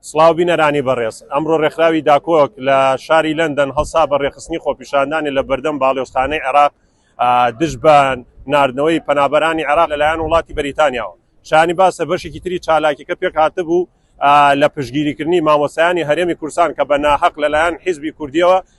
سڵاو بینەرانی بەڕێز ئەمڕۆ ڕێکخراوی داکۆک لە شاری لەندەن هەڵسا بە ڕێخستنی خۆپیشاندانی لە بەردەم باڵێۆستانەی عێراق دژ بە نردنەوەی پەنابەرانی عێراق لەلایەن وڵاتی بەریتانیاوە شانی باسە بەشێکی تری چالاکیەکە پێک هاتبوو لە پشگیریکردنی مامۆسایانی هەرێمی کورسان کە بە ناحق لەلایەن حیزبی کوردیەوە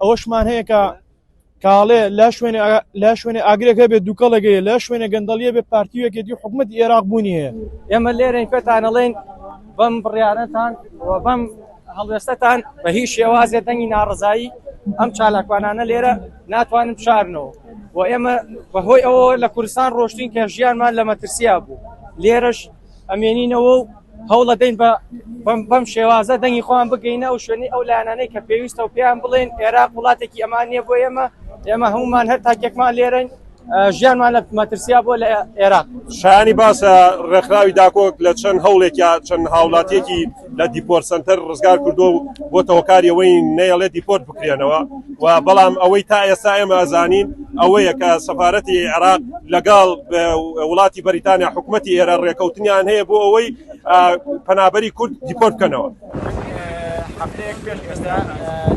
ئەوەشمان هەیە کە کاڵێ لە شوێنێ لە شوێنێ ئاگرێک هەبێت دووکەڵێگەیە لە شوێنێ گەندەڵیە بێ پارتیوێکێت و حکوومەت عێراق بوونی هەیە ئێمە لێرەین پێتانەڵێن بەم بڕیارەتان بەم هەڵوێستەتان بە هیچ شێوازێ دەنگی ناڕزایی ئەم چالاکوانانە لێرە ناتوانن بشارنەوە و ئێمە بەهۆی ئەوە لە کوردستان ڕۆشتین کە ژیانمان لە مەترسیا بوو لێرەش ئەمێنینەوە و هەوڵەدەین بە بەم شێوازە دەنگی خۆیان بگەینە ئەو شوێنی ئەو لایەنانەی کە پێویستە و پێیان بڵێن عێراق وڵاتێکی ئەمان نیە بۆ ئێمە ئێمە هەمومان هەر تاکێکمان لێرەین ژیانمان لە مەترسیا بۆ لە عێراق شانی باسە ڕێکخراوی داکۆک لە چەند هەوڵێکیا چەند هاوڵاتیەکی لە دیپۆرت سنتەر ڕزگار کردو و بۆتە هۆکاری ئەوەی نەیەڵێ دیپۆرت بکرێنەوە و بەڵام ئەوەی تا ئێستا ئێمە ئەزانین ئەوەیە کە سەفاەتی عێراق لەگەڵ وڵاتی بەریتانیا حکوومەتتی ئێرە ڕێکەوتنیان هەیە بۆ ئەوەی پەنابەری کورد دیپۆرت بکەنەوە. هەفتەیەک پێش ئێستا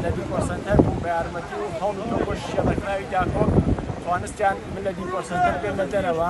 لە دیپۆرسەنتەر بوو بە یارمەتی و هەڵ شێڵەکراوی داکۆک توانستیان من لە دیپۆرسەنتەر بێنە دەرەوە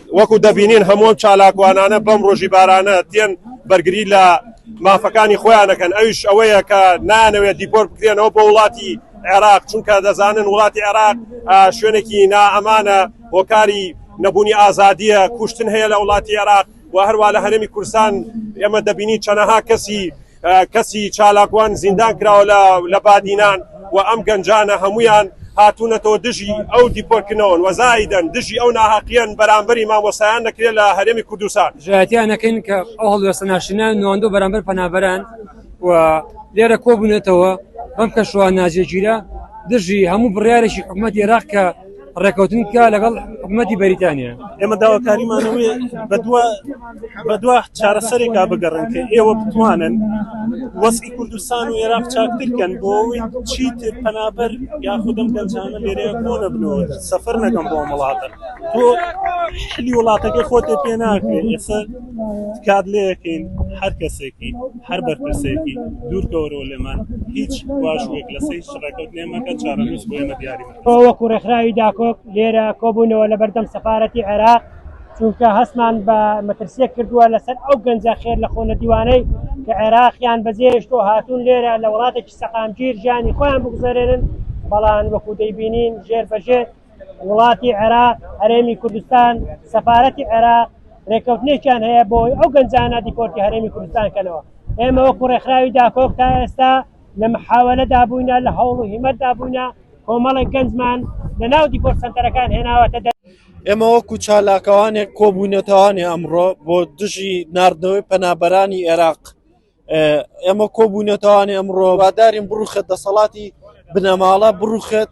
وەکو دەبینین هەموو ئەم چالاکوانانە بەم ڕۆژی بارانە دێن بەرگری لە مافەکانی خۆیانەکەن ئەوش ئەوەیە کە نانەوێت دیپۆر بکرێنەوە بۆ وڵاتی عێراق چونکە دەزانن وڵاتی عێراق شوێنێکی نائەمانە هۆکاری نەبوونی ئازادیە کوشتن هەیە لە وڵاتی عێراق و هەروە لە هەرمی کورسان ئێمە دەبینی چەنەها کەسی کەسی چالاکوان زیندان کراوە لە بادینان و ئەم گەنجانە هەموویان هاتوونەتەوە دژی ئەو دیپۆرکردنەوەن و زایدەن دژی ئەو ناهەقیەن بەرامبەری مامۆستایان دەکرێت لە هەرێمی کوردستان. دژایەتیان دەکەین کە ئەو هەڵوێستە ناشرینانە نواندووە بەرامبەر پەنابەران و لێرە کۆبوونەتەوە بەم کەشوهەوا ناجێگیرە دژی هەموو بڕیارێکی حکومەتی عێراق کە ڕێکەوتن بکە لەگەڵ حکوومەتی بەریتانیا ئێمە داواکاریمانەوەی بەدووە بەدووە چارەسەرێکا بگەڕن کە ئێوە بتوانن وەسکی کوردستان و عێراق چاکترکەن بۆ ئەوەی چیت پەنابەر یا خودم گەنجانە لێرە بۆ نەبنەوە سەفەر نەکەم بۆ وڵاتە تۆ حلی وڵاتەکە خۆتێ پێ ناکرێت ئێستا کات لەکەین هەر کەسێکی هەر بەرپرسێکی دوورکەوەرەوە لێمان هیچ واژوێک لەسەی شڕەکەوت لێمەکە چارەنووس بۆێمە دیاریمە تۆ وەکو ڕێکخراوی داکۆک لێرە کۆبوونەوە لە بەردەم سەفارەتی عێراق چونکە هەستمان بە مەترسیە کردووە لەسەر ئەو گەنجە خێر لە خۆنە دیوانەی کە عێراقیان بەجێشتۆ هاتوون لێرە لە وڵاتێکی سەقامگیر ژیانی خۆیان بگوزارێنن بەڵان وەکو دەیبینین ژێر بەژێر وڵاتی عێراق هەرێمی کوردستان سەفاەتی عێراق ڕێکەوتنێکیان هەیە بۆی ئەو گەنجانە دیپۆرتی هەرێمی کوردستان کەەوە ئێمە وەکو ڕێکخراوی داکۆک تا ئێستا لە محاوەلەدا بووینە، لە هەوڵ و هیمەتدا بووینە، کۆمەڵێک گەنجمان لەناو دیپۆر سەنتەرەکان هێناوەتە دەر. ئێمە وەکو چالاکوانێک کۆبوونەتەوانێ ئەمڕۆ بۆ دژی ناردنەوەی پەنابەرانی ئێراق، ئێمە کۆبوونەتەوانێ ئەمڕۆ وادارین بڕوخێت دەسەڵاتی بنەماڵە بڕوخێت،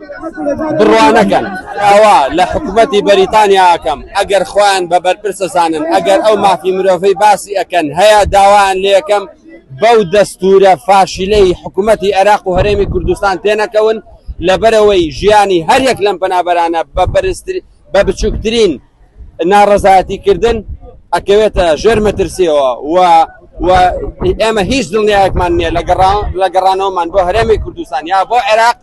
بڕوانەکەن ئەوە لە حکوومەتی بەریتانیا ئەکەم ئەگەر خۆیان بە بەرپرسە زانن ئەگەر ئەو مافی مرۆڤەی باسی ئەکەن هەیە داوایان لەکەم بەو دەستورە فاشیلەی حکوومەتی عێراق و هەرێمی کوردستان تێنەکەون لەبەرەوەی ژیانی هەریەک لەم پەنابەرانە بە بەرزتر بە بچووکترین ناڕەزایەتی کردن ئەکەوێتە ژێر مەترسیەوە و و ئێمە هیچ دڵنیایەکمان نییە لە گەڕانەوەمان بۆ هەرێمی کوردستان یا بۆ عێراق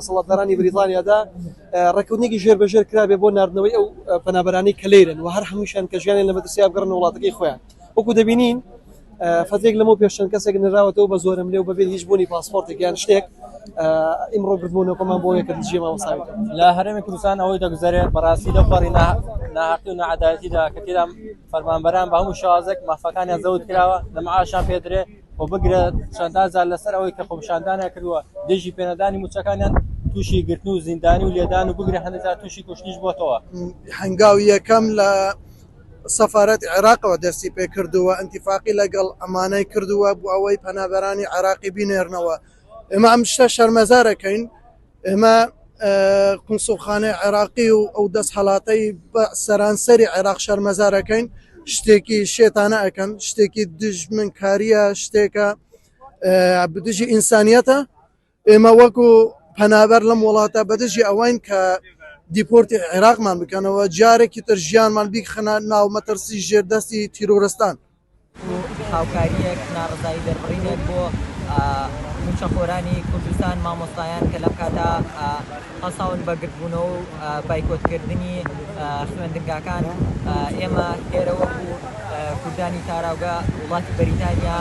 دەسەڵاتدارانی بریتانیادا ڕێککەوتنێکی ژێربەژێر کرابێت بۆ ناردنەوەی ئەو پەنابەرانەی کە لێرەن و هەر هەمووشیان کە ژیانیان لە مەترسیدا بگەڕێنە وڵاتەکەی خۆیان وەکو دەبینین فترێک لەمەو پێش چەند کەسێک نراوەتەوە بە زۆرم لێ و بەبێت هیچ بوونی پاسپۆرتێک یان شتێک ئیمڕۆ گردبوونەکەمان بۆ یەکە دژێ مامۆساوی لە هەرێمی کوردستان ئەوەی دەگوزارێت بەڕاستی لە پەڕی ناحقی و نەعەدالەتیدا کە تێدا فەرمانبەران بە هەموو شازێک مافەکانیان زەوت کراوە لە معاشیان پێدرێت و بگرە چەندان جار لەسەر ئەوەی کە خۆپیشاندانیان کردووە دژی پێنەدانی مووچەکانیان تووشی گرتن و زیندانی و لێدان و بگرە هەندێک جار تووشی کوشتنیش بۆتەوە. هەنگاوی یەکەم لە سەفارەتی عێراقەوە دەستی پێ کردووە، ئینتیفاقی لەگەڵ ئەمانە کردووە بۆ ئەوەی پەنابەرانی عێراقی بینێرنەوە. ئێمە ئەم شتە شەرمەزار ئەکەین ئێمە قونسوڵخانەی عێراقی و ئەو دەست هەڵاتەی بە سەرانسەری عێراق شەرمەزارەکەین شتێکی شێتانە ئەەکەن شتێکی دژمنکاریە شتێکە بدژی ئینسانیەتە ئێمە وەکو پەنابەر لەم وڵاتە بەدژی ئەوین کە دیپۆرتی عێراقمان بکەنەوە جارێکی تر ژیانمان بیخەنە ناو مەترسی ژێردەستی تیرۆرستان هاوکارییەک، ناڕەزایی دەربڕینێک بۆ مووچەخۆرانی کوردستان، مامۆستایان کە لەم کاتە هەڵساون بە گردبوونەوە و بایکۆتکردنی خوێندنگاکان. ئێمە ئێرە وەکوو کوردانی تاراوگە وڵاتی بەریتانیا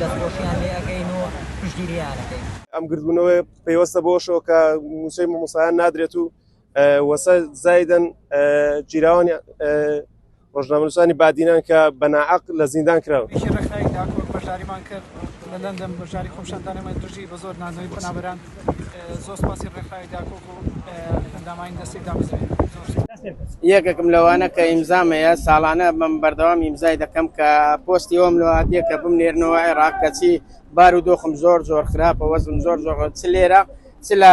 دەستخۆشییان لێ ئەکەین و پشتگیرییان ئەکەین. ئەم گردبوونەوەیە پەیوەستە بەوەشەوە کە مووچەی مامۆستایان نادرێت و وەسە زایدن جیراوانی ڕۆژنامەنووسانی بادینان کە بەناعق لە زیندان کراون پیشی ڕێکخراوی داکۆک بەشداریمان کرد لە لەندەن بەشداری خۆپیشاندانەمان دژی بە زۆر ناندنەوەی پەنابەران زۆر سپاسی ڕێکخراوی داکۆک و ئەندامانی دەستەی دامەزرێن یەکێکم لەوانە کە ئیمزامەیە ساڵانە بەم بەردەوام ئیمزای دەکەم کە پۆستی ئەوم لەواتیە کە بمنێرنەوە عێراق کەچی بار و دۆخم زۆر زۆر خراپە وەزم زۆر زۆر چ لێرە چ لە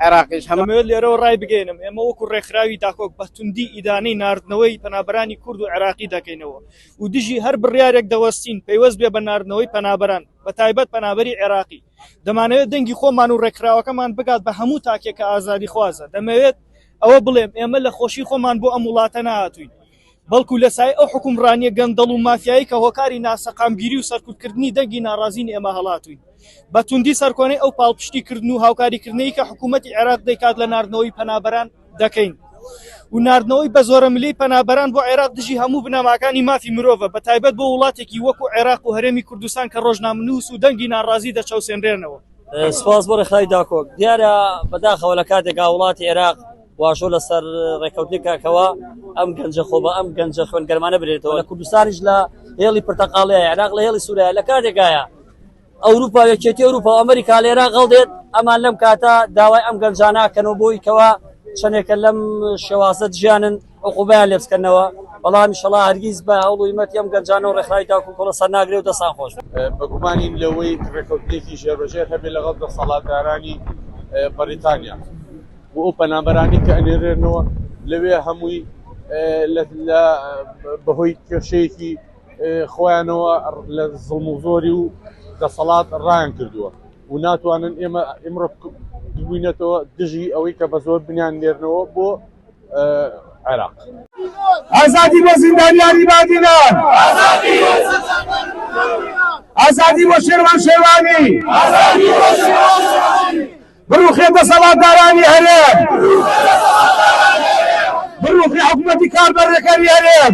عێراقیش هەمان. دەمەوێت لێرەوە ڕایبگەیەنم، ئێمە وەکو ڕێکخراوی داکۆک بە توندی ئیدانەی ناردنەوەی پەنابەرانی کورد و عێراقی دەکەینەوە و دژی هەر بڕیارێک دەوەستین پەیوەست بێ بە ناردنەوەی پەنابەران بە تایبەت پەنابەری عێراقی. دەمانەوێت دەنگی خۆمان و ڕێکخراوەکەمان بگات بە هەموو تاکێک کە ئازادیخوازە. دەمەوێت ئەوە بڵێم ئێمە لە خۆشی خۆمان بۆ ئەم وڵاتە نەهاتووین. بەڵکو لە سایەی ئەو حوکمڕانیە گەندەڵ و مافیایەی کە هۆکاری ناسەقامگیری و سەرکوتکردنی دەنگی ناڕازین ئێمە هەڵاتوین بە توندی سەرکۆنەی ئەو پاڵپشتی کردن و هاوکاری کردنەی کە حکومەتی عێراق دەیکات لە ناردنەوەی پەنابەران دەکەین و ناردنەوەی بە زۆرە ملی پەنابەران بۆ عێراق دژی هەموو بنەماکانی مافی مرۆڤە بە تایبەت بۆ وڵاتێکی وەکو عێراق و هەرێمی کوردستان کە ڕۆژنامنووس و دەنگی ناڕازی دەچەوسێنرێنەوە. سپاس بۆ ڕێکخراوی داکۆک. دیارە بەداخەوە لە کاتێکا وڵاتی عێراق، واژۆ لەسەر ڕێککەوتنی کاکەوە ئەم گەنجە خۆ بە ئەم گەنجە خوێنگەرمانە برێتەوە لە کوردستانیش لە هێڵی پرتەقاڵی عێراق لە هێڵی سووریا لە کاتێکایە ئەوروپا یەکێتی ئەوروپا و ئەمریکا لە عێراق هەڵدێت ئەمان لەم کاتە داوای ئەم گەنجانە کەنەوە بۆی کەوە چەندێکە لەم شێوازە ژیانن عقوبیان لێ بکەنەوە بەڵام شڵا هەرگیز بە هەوڵی مەت ئەم گەنجانە و ڕێکخراوی تاکو کۆڵە سەر ناگرێ و دەسان خۆش بەگومانین لەوەی ڕێکەوتێکی ژێربەژێر هەبێ لەگەڵ دەسەڵاتدارانی بەریتانیا بۆ ئەو پەنابەرانەی کە ئەنێرێنەوە لەوێ هەمووی بەهۆی کێشەیەکی خۆیانەوە لە زڵم و زۆری و دەسەڵات ڕایان کردووە و ناتوانن ئێمە ئمڕۆ ببووینەتەوە دژی ئەوەی کە بە زۆر بنیان نێرنەوە بۆ عێراق ئازادی بۆ زیندانیانی بادینان ئازادی بۆ شێروان شێروانی بڕوخێ دەسەڵاتدارانی هەرێم بڕوخێ حکومەتی کاربەڕێکەری هەرێم.